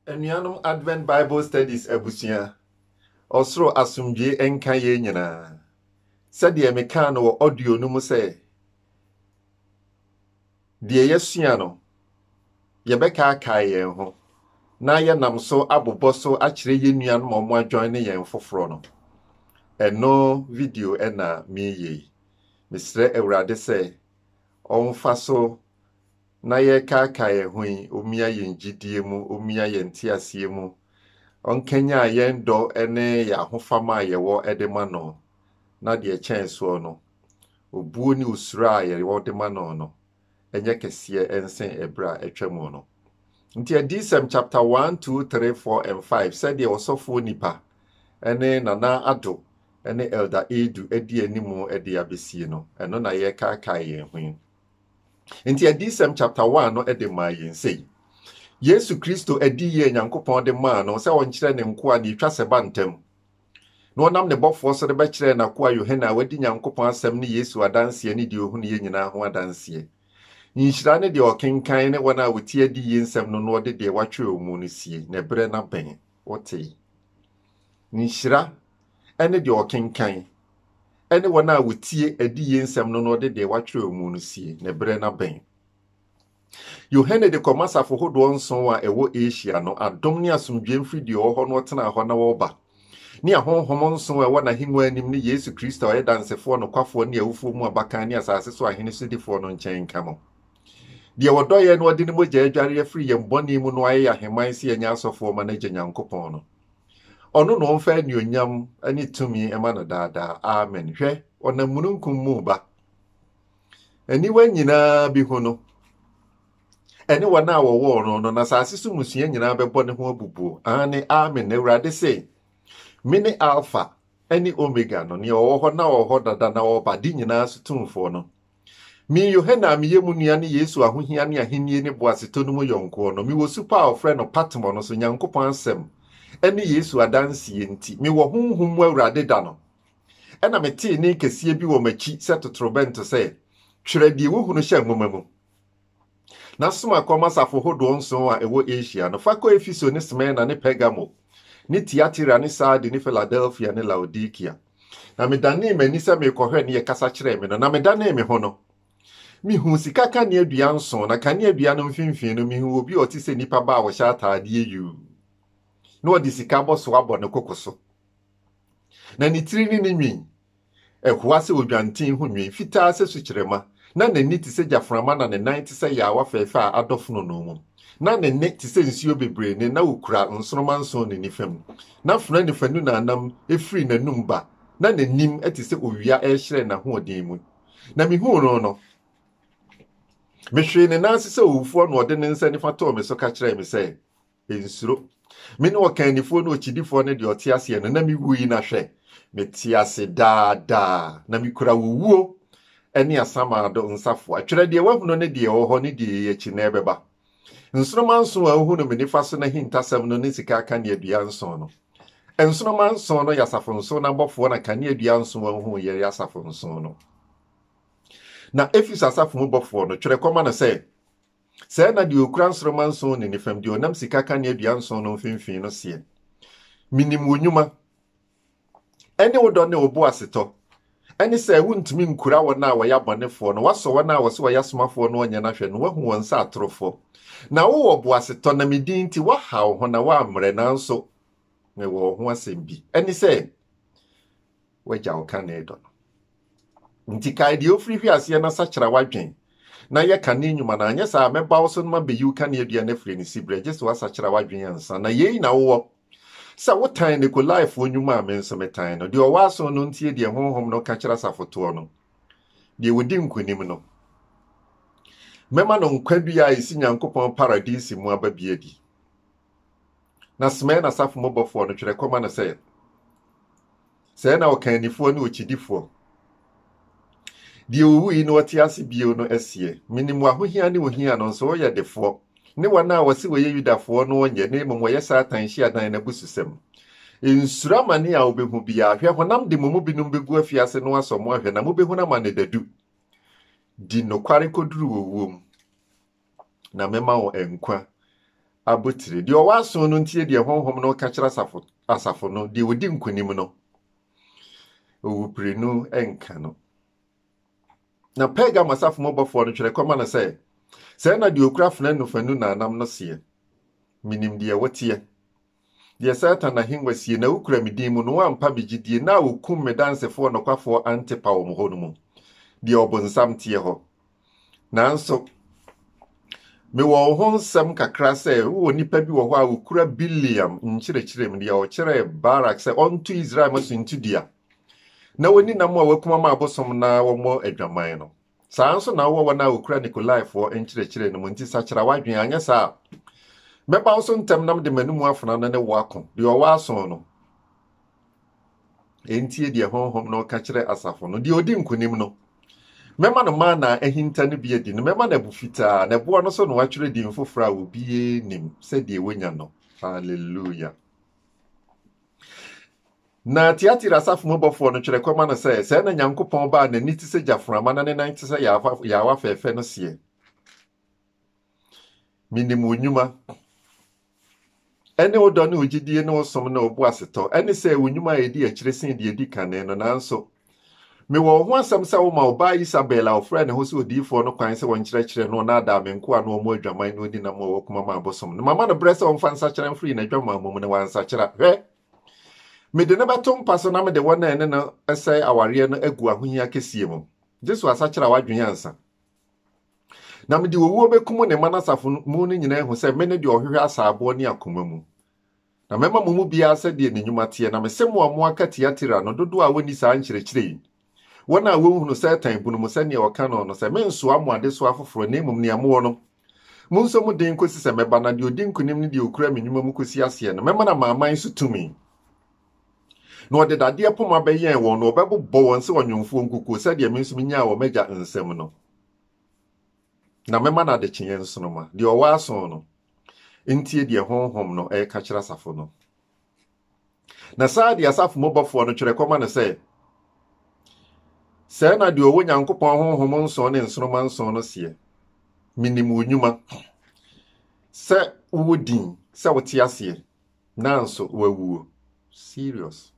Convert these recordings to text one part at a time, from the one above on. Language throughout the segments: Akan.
Anuanom Advent Bible Studies abusua, ɔsoro asomdwoe nka yɛn nyinaa. Sɛdeɛ mekaa no wɔ audio no mu sɛ, deɛ yɛasua no, yɛbɛkaakae yɛn ho na yɛnam so abobɔ so akyerɛ yɛn nuanom a wɔadwan ne yɛn foforɔ no. Ɛno video na meyɛ yi. Mesrɛ Awurade sɛ ɔmfa so na yɛrekaakae ɛho yi omia yɛn gyidie mu, omia yɛn nteaseɛ mu, ɔnkanyan yɛn dɔ ne yɛn ahofama a yɛwɔ de ma no, na deɛ ɛkyɛn soɔ no, obuo ne osuro a yɛwɔ de ma no no nyɛ kɛseɛ nsen ɛberɛ a atwa mu no. Nti Adiyisɛm chapter one, two, three, four and five sɛdeɛ Ɔsɔfoɔ Nipa ne Nana Addo ne Elder Adu adi anim de abɛsie no, ɛno na yɛrekaakae yɛn ho yi. Nti Adiyisɛm chapter 1 no de maa yɛn sei. Yesu Kristo adi yie a Nyankopɔn de maa no sɛ ɔnkyerɛ ne nkoa ne ɛtwa sɛ ba ntam na ɔnam ne bɔfoɔ so de bɛkyerɛɛ n'akoa Yohane a wadi Nyankopɔn asɛm ne Yesu adanseɛ ne deɛ ɔhunuiɛ nyinaa ho adanseɛ. Nhyira ne deɛ ɔkenkan ne wɔn a wɔtie adiyie nsɛm no na ɔde deɛ watwerɛ mu no sie, na ɛberɛ no abɛn. Wotee? Nhyira ne deɛ ɔkenkan, ne wɔn a wɔtie adiyie nsɛm no na ɔde deɛ watwerɛ mu no sie, ne berɛ no abɛn. Yohane de kɔma asafo hodoɔ nson a ɛwɔ Asia no, adom ne asomdwoeɛ mfiri deɛ ɔwɔ hɔ na ɔtenaa hɔ na ɔreba, ne ahonhom nson a ɛwɔ n'ahennwa anim ne Yesu Kristo a ɔyɛ dansefoɔ nokwafoɔ ne awufoɔ mu abakan ne asase so ahene sodifoɔ no nkyɛn nka mo. Deɛ wɔdɔ yɛn na ɔde ne mogya adware yɛn afiri yɛn bɔne mu no ayɛ yɛn ahemman sɛ yɛnyɛ asɔfoɔ ma no agya Nyankopɔn no. Ɔno na ɔmfa anuonyam ne tumi ma no daa daa. Amen. Hwɛ, ɔnam mununkum mu reba. Aniwa nyinaa behu no, ɛne wɔn a wɔwɔɔ no no, na asase so mmusua nyinaa bɛbɔ ne ho abubuo. Aane, amen. Na Awurade se, Mene Alfa ne Omega no, nea ɔwɔ hɔ na ɔwɔ hɔ dada na ɔba, de nyinaa so tumfoɔ no. Me, Yohane a meyɛ mo nua ne Yesu ahohia ne ahenni ne boasetɔ no mu yɔnkoɔ no, mewɔ supɔ a wɔfrɛ no Patmo no so Nyankopɔn asɛm ne Yesu adanseɛ nti. Mewɔ Honhom mu Awurade da no, ɛnna metee nne kɛseɛ bi wɔ m'akyi sɛ totorobɛnto sɛ, Twerɛ deɛ wohunu hyɛ nwoma mu. na soma kɔma asafo hodoɔ nson a ɛwɔ Asia no, fa kɔ Efeso ne Smirna ne Pergamo ne Tiatira ne Sardi ne Filadelfia ne Laodikea. Na medanee m'ani sɛ merekɔhwɛ ne yɛkasa kyerɛɛ me no, na medanee me ho no, mehuu sika kaneadua nson, na kaneadua no mfimfini no mehuu obi a ɔte sɛ nipa ba a ɔhyɛ ataadeɛ yuu, na ɔde sika abɔsoɔ abɔ ne koko so, na ne tiri ne ne nwi Ɛhoa sɛ odwanten ho nwi, fitaa sɛ sukyerɛmma. Ná n'ani te sɛ gyaframa na ne nan te sɛ yaawa fɛɛfɛ a adɔ fononoo mu. Ná ne nne te sɛ nsuo bebree nne na okura nsoromma nson ne nifa mu. Ná fena ne fanu na nam firi n'anom ba, na n'anim te sɛ owia rehyerɛn n'ahoɔden mu. Na mihuu no no, mehwee ne nan ase sɛ owufoɔ na ɔde ne nsa nifa too me so ka kyerɛɛ me sɛ, Nsuro. Me ne ɔkannifoɔ ne okyidifoɔ ne deɛ ɔte aseɛ no, na mewui, na hwɛ, mete ase daa daa, na mekura wo wuo ne asamado nsafoa. Twerɛ deɛ woahunu ne deɛ ɛwɔ hɔ ne deɛ ɛyɛ akyi na ɛbɛba. Nsoromma nson a wohunu me nifa so no ahintasɛm no ne sika akaneadua nson no. Nsoromma nson no yɛ asafo nson no abɔfoɔ na kaneadua nson a wohunu yɛ asafo nson no. Na Efeso asafo mu bɔfoɔ no, twerɛ kɔma no sɛ, Sɛɛ na deɛ ɔkura nsoromma nson ne ne fam, deɛ ɔnam sika kanea dua nson no mfimfini no seɛ, Menim wo nnwuma, ne wo dɔ ne wo boasetɔ, ne sɛ wontumi nkura wɔn a wɔyɛ abɔnefoɔ no, woasɔ wɔn a wɔse wɔyɛ asomafoɔ no ɔnyɛ no ahwɛ, na woahu wɔn sɛ atorofoɔ. Na wowɔ boasetɔ, na me din nti woaha wo ho na woammrɛ, nanso mewɔ wo ho asɛm bi, ɛne sɛ, w'agya ɔkanee dɔ no. Nti kae deɛ ɔfiri hwe aseɛ na sakyera w'adwen na yɛ kane nnwuma no anyɛ saa a mɛba wo so no mabɛyi wo kaneadua no afiri ne siberɛ gye sɛ woasakyera w'adwen ansa na yei na wowɔ sɛ wotan Nikolaefoɔ nnwuma a me nso metan no. Deɛ ɔwɔ aso no ntie deɛ Honhom no ka kyerɛ asafotoɔ no. Deɛ ɔdi nkonim no, mɛma no nkwa dua a ɛsi Nyankopɔn Paradise mu aba bi adi. Na Smirna asafo mu bɔfoɔ no twerɛ kɔma no sɛ, Sɛɛ na ɔkannifoɔ ne okyidifoɔ, deɛ ɔwuui na ɔte ase bio no seɛ, Menim w'ahohia ne wo hia no, nso woyɛ defoɔ, ne wɔn a wɔse wɔyɛ Yudafoɔ no nyɛ, na mmom wɔyɛ Satan hyiadan no abususɛm. Nsuro amane a wobɛhu biara. Hwɛ, honam de mo mu binom bɛgu afiase na wɔasɔ mo ahwɛ, na mobɛhunu amane dadu. Di nokware kɔduru owuo mu. na mɛma wɔn nkwa abotire. Deɛ ɔwɔ aso no ntie deɛ honhom no ka kyerɛ asafo, asafo no, deɛ ɔdi nkonim no, owuprenu nka no. Na Pergamo asafo mu bɔfoɔ no twerɛ kɔma no sɛ, sɛɛ na deɛ ɔkura afena nofanu nnamnam no seɛ, menim deɛ woteɛ, Deɛ Satan ahennwa sie, na wokura me din mu, na woampa me gyidie, na a wɔkum me dansefoɔ nokwafoɔ Antipa wɔn hɔ no mu, deɛ ɔbonsam teɛ hɔ. Nanso, mewɔ wo ho nsɛm kakra sɛ wowɔ nnipa bi wɔ hɔ a wɔkura Bileam nkyerɛkyerɛ mu, deɛ ɔkyerɛɛ Barak sɛ ɔnto Israel mma so ntu dua, na wɔnni nam a wɔakum ama abosom na wɔmmɔ adwaman no. Saa ara nso na wowɔ wɔn a wokura Nikolaefoɔ nkyerɛkyerɛ no mu, nti sakyera w'adwene, anyɛ saa a mɛba wo so ntɛm na mede m'anomu afena no ne wo ako, deɛ ɔwɔ aso no ɛntie deɛ Honhom no reka kyerɛ asafo no, deɛ ɔdi nkonim no, mɛma no mana a ahinta no bi adi no, mɛma no abu fitaa, na ɛboɔ no so na wɔatwerɛ din foforɔ a obiara nnim sɛdeɛ wɔnya no. Hallelujah. Na Tiatira asafo mu bɔfoɔ no twerɛ kɔma no sɛ, Sɛɛ na Nyankopɔn ba a n'ani te sɛ gyaframa na ne nan te sɛ yaawa fɛɛfɛ no seɛ, Menim wo nnwuma, ɛne wo dɔ ne wo gyidie ne wo som ne wo boasetɔ, ɛne sɛ wo nnwuma a ɛdi akyire sen deɛ ɛdi kane no, nanso Mewɔ wo ho asɛm sɛ woma wo ba Isabel a ɔfrɛɛ ne ho sɛ odiyifoɔ no kwan sɛ ɔnkyerɛkyerɛ na ɔnnaadaa me nkoa ne wɔn adwaman no nni nam a ɔwɔ komam a ɛbosom no. Mama no berɛ sɛ ɔmfa nsakyera mfiri n'adwamammɔ mu, na wansakyera. Hwɛ! Mede no bɛto mpa so na mede wɔn a ɛne no sɛe awareɛ no agu ahohia kɛseɛ mu. Jesu asakyera w'adwene ansa. Na mede owuo bɛkum ne mma no asafo mu no nyinaa ahu sɛ mene deɛ ɔhwehwɛ asaaboɔ ne akoma mu. Na mɛma mo mu biara sɛdeɛ ne nnwuma teɛ, na mese mo a moaka Tiatira no dodoɔ a wɔnni saa nkyerɛkyerɛ yi, wɔn a wɔnhunu Satan bunu mu sɛdeɛ ɔka no no, sɛ mensoa mo adesoa foforɔ, na mmom nea mowɔ no, monsɔ mu den kɔsi sɛ mɛba, na deɛ ɔdi nkonim ne deɛ ɔkura me nnwuma mu kɔsi aseɛ no, mɛma no amanaman so tumi. Na ɔde dadeɛ poma bɛyɛn wɔn, na ɔbɛbobɔ wɔn sɛ ɔnwomfoɔ nkukuo, sɛdeɛ me nso menyaa wɔ m'Agya nsam no, na mɛma no adekyeeɛ nsoromma. Deɛ ɔwɔ aso no, ntie deɛ Honhom no reka kyerɛ asafo no. Na saa deɛ asafo mu bɔfoɔ no twerɛ kɔma no sɛ, Sɛɛ na deɛ ɔwɔ Nyankopɔn Honhom nson ne nsoroma nson no seɛ, Menim wo nnwuma, sɛ wowɔ din, sɛ wote aseɛ, nanso woawuo. Serious.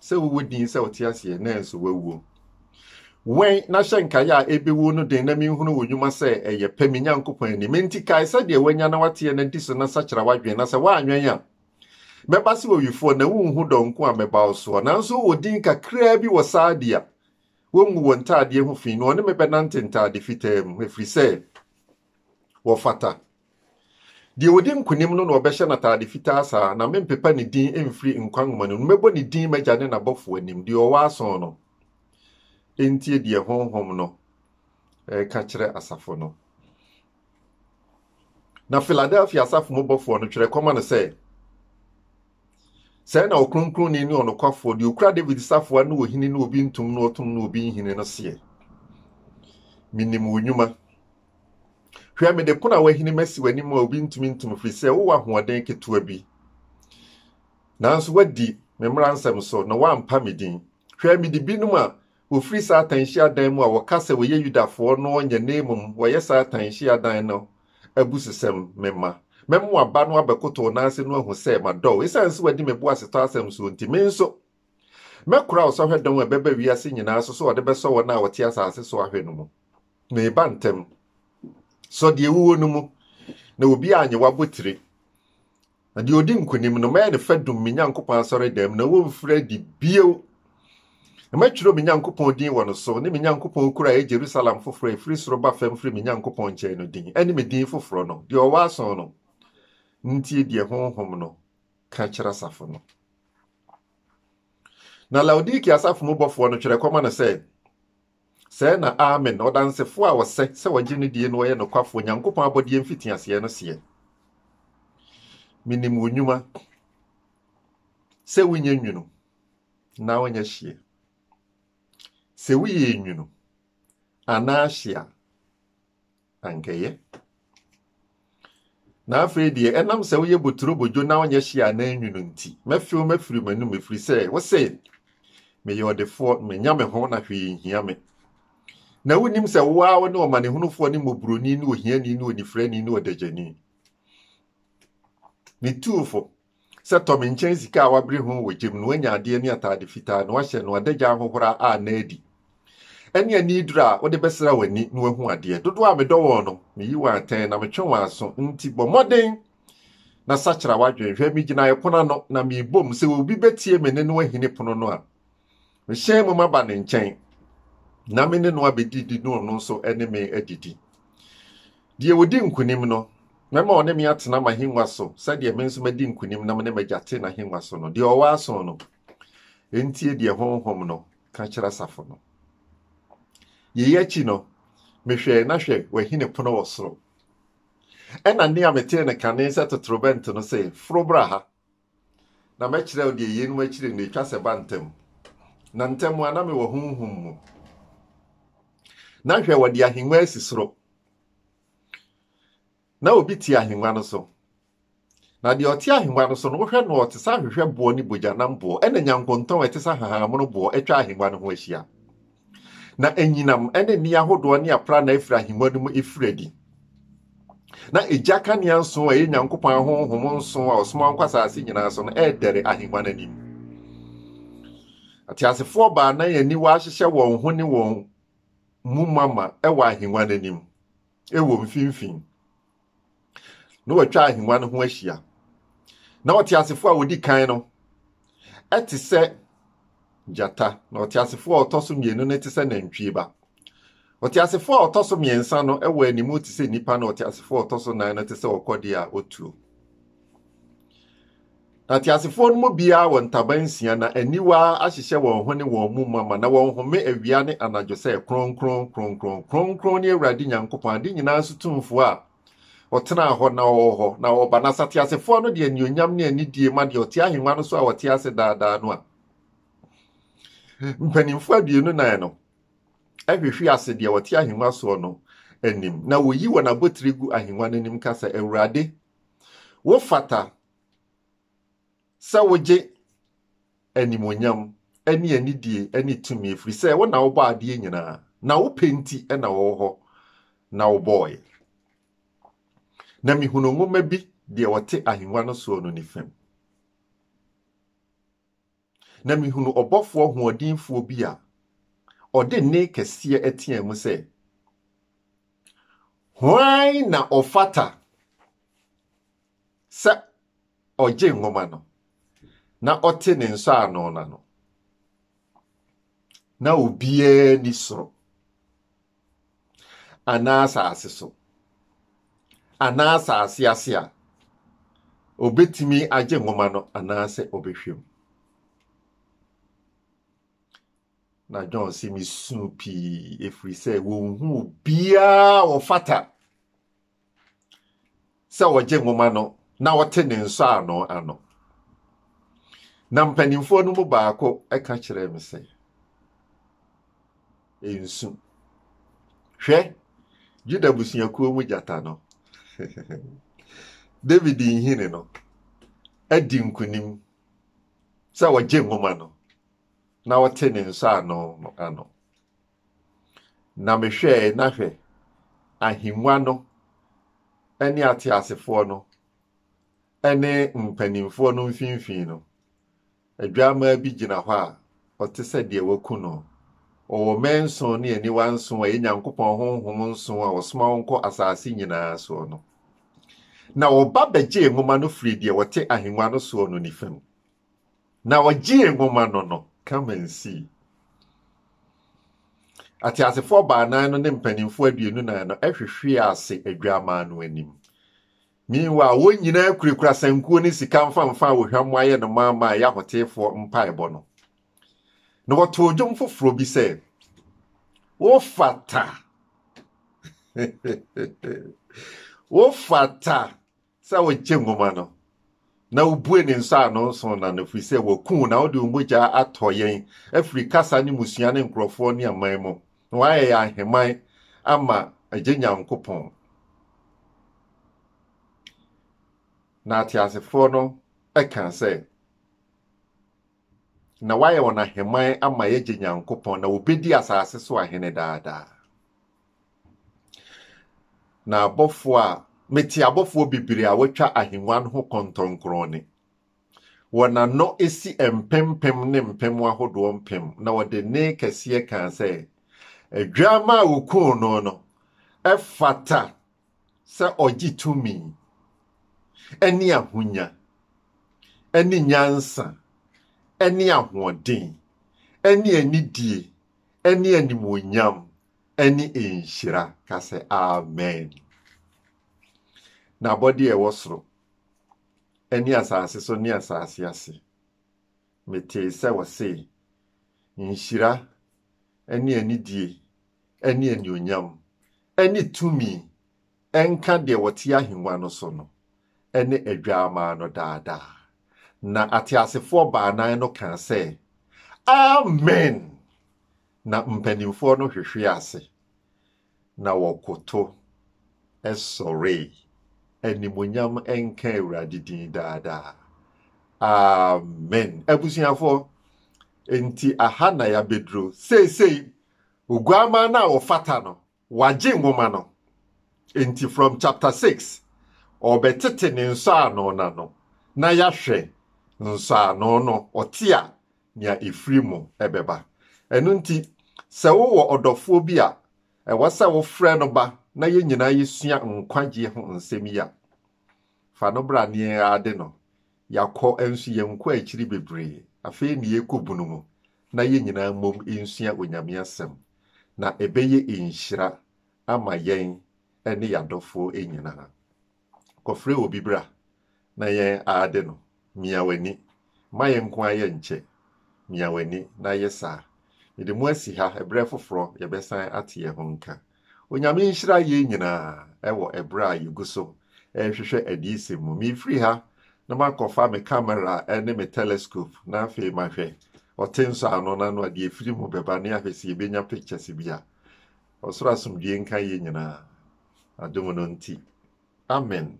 sɛ wowɔ din sɛ ɔte aseɛ nanso wawuo wɛn na hyɛ nkaeɛ a ɛbɛwu no den na menhunu wo nnwuma sɛ ɛyɛ pɛ me nyankopɔn anim enti kae sɛdeɛ woanya na wateɛ na di so na sakyera w'adwene na sɛ woanwɛn a mɛba se owifoɔ na wonhu dɔ nko a mɛba wo soɔ nanso wowɔ din kakraa bi wɔ saadi a wɔngu wɔ ntaadeɛ ho fi no ɔne me bɛnante ntaade fitaa mu ɛfiri sɛ wɔfata Deɛ ɔdi nkonim no na wɔbɛhyɛ no ataade fitaa saa, na mempepa ne din mfiri nkwa nwoma no mu, na mɛbɔ ne din m'Agya ne n'abɔfoɔ anim, deɛ ɔwɔ asõ no ntie deɛ Honhom no reka kyerɛ asafo no. Na Filadelfia asafo mu bɔfoɔ no, twerɛ kɔma no sɛ, Sɛɛ na ɔkronkronni ne ɔnokwafoɔ, deɛ ɔkura Dawid safoa ne ɔhene ne obi ntom ne ɔtom ne obi nhini no seɛ, Menim wo nnwuma, Hwɛ, mede pono a woahinim asi w'anim a obi ntumi nto mu, ɛfiri sɛ wowɔ ahoɔden ketewa bi. Nanso woadi me mmara nsɛm so na woampa me din. Hwɛ, mede binom a wɔfiri Satan nhyiadan mu a wɔka sɛ wɔyɛ Yudafoɔ no nyɛ na mmom wɔyɛ Satan nhyiadan no abususɛm mema. Mɛma w'aba no abɛkoto wo nan ase na wahu sɛ madɔ wo. Ɛsiane sɛ woadi me boasetɔ asɛm so nti, me nso, Mɛkora ɔsɔhwɛ dɔn a ɛbɛba wiase nyinaa so sɛ ɔde bɛsɔ wɔn a wɔte asase so ahwɛ no mu. Mereba ntɛm. Sɔ deɛ ɛwuo no mu, na obiara anyɛ wo abotire. Na deɛ ɔdi nkonim no, mɛyɛ no fadum me Nyankopɔn asɔredan mu, na wɔremfiri adi bio. Na mɛtwerɛ me Nyankopɔn din wɔ no so, ne me Nyankopɔn kuro a ɛyɛ Yerusalem foforɔ a ɛfiri soro ba fam firi me Nyankopɔn nkyɛn no din, ɛne me din foforɔ no, deɛ ɔwɔ aso no ntie deɛ Honhom no ka kyerɛ asafo no. Na Laodikea asafo mu bɔfoɔ no twerɛ kɔma no sɛ, Sɛɛ na Amen, ɔdansefoɔ a ɔsɛ sɛ wɔgye no die na ɔyɛ nokwafoɔ Nyankopɔn abɔdeɛ mfitiaseɛ no seɛ, Menim wo nnwuma, sɛ wonyɛ nwunu na wonyɛ hyeɛ. Sɛ woyɛ nwunu anaa hye a, ankɛyɛ. Na afei deɛ, ɛnam sɛ woyɛ boturobodwo na wonyɛ hye a na enwunu nti, mɛfew mafiri m'anom ɛfiri sɛ wose, Meyɛ ɔdefoɔ, manya me ho, na hwee nhia me. Na wonim sɛ wo ara wone ɔmanehunufoɔ ne mmɔborɔni ne ohiani ne onifirani ne ɔdagyani. Me tuufo, Sɛ tɔ me nkyɛn sika a wabere ho wɔ gya mu na wanya adeɛ ne ataade fitaa na wahyɛ na wada gya ahohora a na adi ɛne ani duru a wode bɛsra w'ani na wahu adeɛ. Dodoɔ a medɔ wɔn no, meyi wɔn atɛn na metwe wɔn aso nti bɔ mmɔden na sakyera w'adwene. Hwɛ, megyina ɛpono ano na merebɔ mu, sɛ obi bɛtie me nne na wahini pono no a, Mehyɛn mu maba ne nkyɛn, na me ne no abedidi na ɔno nso ne me adidi. Deɛ ɔdi nkonim no, mɛma ɔne me atena m'ahengua so sɛdeɛ me nso madi nkonim na me ne m'agya te n'ahengua so no. Deɛ ɔwɔ aso no, ɛntie deɛ Honhom no ka kyerɛ asafo no. Yei akyi no, mehwɛe na hwɛ wahini pono wɔ soro. Ɛnna nne a metee no kane sɛ totorobɛnto no se, Foro bra ha. Na mɛkyerɛ wo deɛ yeinom akyiri no ɛtwa sɛ ɛba ntɛm. Na ntɛm a na mewɔ honhom mu. Na hwɛ, wɔde ahennwa asi soro. Na obi te ahennwa no so. Na deɛ ɔte ahennwa no so no, wohwɛ no ɔte sɛ ahwehwɛ boɔ ne bogyanam boɔ, ɛna nyankontɔn a ɛte sɛ ahahammono boɔ atwa ahennwa no ho ahyia. Na anyinam ne nne ahodoɔ ne aprannaa firi ahengua no mu firi adi. Na egya kanea nson a ɛyɛ Nyankopɔn ahonhom nson a ɔsoma nkɔ asase nyinaa so no ɛredɛre ahengua no anim. Ateasefoɔ baanan aniwa ahyehyɛ wɔn ho ne wɔn mu mama wɔ ahengua no anim, wɔ mfimfini. na wɔatwa ahengua no ho ahyia. Na ɔteasefo a odi kan no te sɛ gyata, na ɔteasefo a ɔtɔ so mmienu no te sɛ nantwie ba. Ɔteasefo a ɔtɔ so mmiɛnsa no wɔ anim te sɛ nipa, na ɔteasefo a ɔtɔ so nan no te sɛ ɔkɔdeɛ a otuo. Na teasefoɔ no mu biara wɔ ntaban nsia, na aniwa ahyehyɛ wɔn ho ne wɔn mu mama, na wɔhome awia ne anadwo sɛ, Kronkron, kronkron, kronkron ne Awurade Nyankopɔn, ade nyinaa so Tumfoɔ a ɔtenaa hɔ na ɔwɔ hɔ na ɔreba. Na sateasefoɔ no de anuonyam ne anidie ma deɛ ɔte ahennwa no so a ɔte ase daa daa no a mpanimfoɔ aduonu nan no hwehwe ase deɛ ɔte ahennwa soɔ no anim, na wɔyi wɔn abotire gu ahennwa no anim ka sɛ, Awurade, wofata sɛ wogye animuonyam ne anidie ne tumi ɛfiri sɛ wo na wobɔ adeɛ nyinaa na wopɛ nti na wɔwɔ hɔ na wobɔɔyɛ na mehunu nwoma bi deɛ wɔte ahengua no soɔ no ne fam na mehunu ɔbɔfoɔ hoɔdenfoɔ bi a ɔde nne kɛseɛ ɛtea mu sɛ, Hwan na ɔfata sɛ ɔgye nwoma no na ɔte ne nsɔano no ano? Na obiara ni soro. anaa asase so, anaa asase ase a, obetumi agye nwoma no anaasɛ ɔbɛhwɛ mu. Na John se, Misuu pii, ɛfiri sɛ wɔnhu obiara a ɔfata. sɛ wɔgye nwoma no na wɔte ne nsɔano ano. Na mpanimfoɔ no mu baako ka kyerɛɛ me sɛ, Nsu. Hwɛ, Juda busuakuo mu gyata no, David nhini no, adi nkonim sɛ wɔgye nwoma no na wɔte ne nsɔano no ano. Na mehwɛe, na hwɛ! ahengua no ne ateasefoɔ no ne mpanimfoɔ no mfimfini no, Adwammaa bi gyina hɔ a ɔte sɛ deɛ wɔaku no. Ɔwɔ mmɛn nson ne aniwa nson a ɛyɛ Nyankopɔn honhom nson a wɔsoma wɔn kɔ asase nyinaa soɔ no. Na ɔba bɛgyee nwoma no firii deɛ ɔte ahengua no soɔ no nifa mu. Na ɔgyee nwoma no no, come and see. Ateasefoɔ baanan no ne mpanimfoɔ aduonu nan no hwehwee ase Adwammaa no anim. Meanwhile, wɔn nyinaa kurakura sankuo ne sika mfamfa a wɔhwam ayɛ no ma ma ɛyɛ ahoteefoɔ mpaebɔ no. Na wɔtoo dwom foforɔ bi sɛ, Wofata! Wofata! Sɛ wogye nwoma no, na wobue ne nsɔano nson no ano, ɛfiri sɛ wɔaku wo, na wode wo mogya atɔ yɛn afiri kasa ne mmusua ne nkurɔfoɔ ne aman mu, na woayɛ yɛn ahemman ama Agya Nyankopɔn, na ateasefoɔ no kaa sɛ, Na woayɛ wɔn ahemman ama yɛn Agya Nyankopɔn, na wɔbɛdi asase so ahene daa daa. Na abɔfoɔ a mete abɔfoɔ bebree a wɔatwa ahengua no ho kɔntɔnkrɔn ne wɔn ano si mpempem ne mpem ahodoɔ mpem, na wɔde nne kɛseɛ kaa sɛ, Adwammaa a wɔkuu no no fata sɛ ɔgye tumi ne ahonya ne nyansa ne ahoɔden ne anidie ne animuonyam ɛne nhyira ka sɛ amen. N'abɔde a ɛwɔ soro ne asase so ne asase ase. Metee sɛ wɔse, Nhyira ne anidie ne anuonyam ne tumi nka deɛ ɔte ahengua no so no ne Adwaamaa no daa daa. Na ateasefoɔ baanan no kaa sɛ, Amen! Na mpanimfoɔ no hwehwee ase, na wɔkoto sɔree, Animuonyam nka Awurade din daa daa. Amen. Abusuafoɔ, enti aha na yɛabɛduro. Seesei, Oguammaa no a ɔfata no Wagye nwoma no, enti from chapter six, ɔrebɛtete ne nsɔano no ano, na yɛahwɛ nsɔano no, ɔte a, nea ɛfiri mu bɛba. Ɛno nti, sɛ wowɔ ɔdɔfoɔ bi a, ɛwɔ sɛ wofrɛ no ba na yɛn nyinaa yɛsua nkwagyeɛ ho nsɛm yi a, fa no bra ne yɛn ara de no. Yɛakɔ nso yɛnkɔ akyiri bebree. Afei ne yɛrekɔ bunu mu, na yɛn nyinaa mmom nsua Onyame Asɛm, na ɛbɛyɛ nhyira ama yɛn ne yɛn adɔfoɔ nyinaa. Kɔfrɛ obi bra na yɛn aade no. Mia w'ani. Mma yɛn nko ara yɛnkyɛ. Mia w'ani na yɛ saa. Mede mo asi ha, ɛberɛ foforɔ yɛbɛsan ate yɛn ho nka. Onyame nhyira yɛn nyinaa wɔ ɛberɛ a yɛgu so rehwehwɛ adiyisɛm mu. Merefiri ha na makɔfa me camera ne me telescope na afei mahwɛ ɔte nsɔano no ano a deɛ ɛfiri mu bɛba ne ahwɛ sɛ yɛbɛnya pictures bi a. Ɔsoro asomdwoeɛ nka yɛn nyinaa adom no nti. Amen.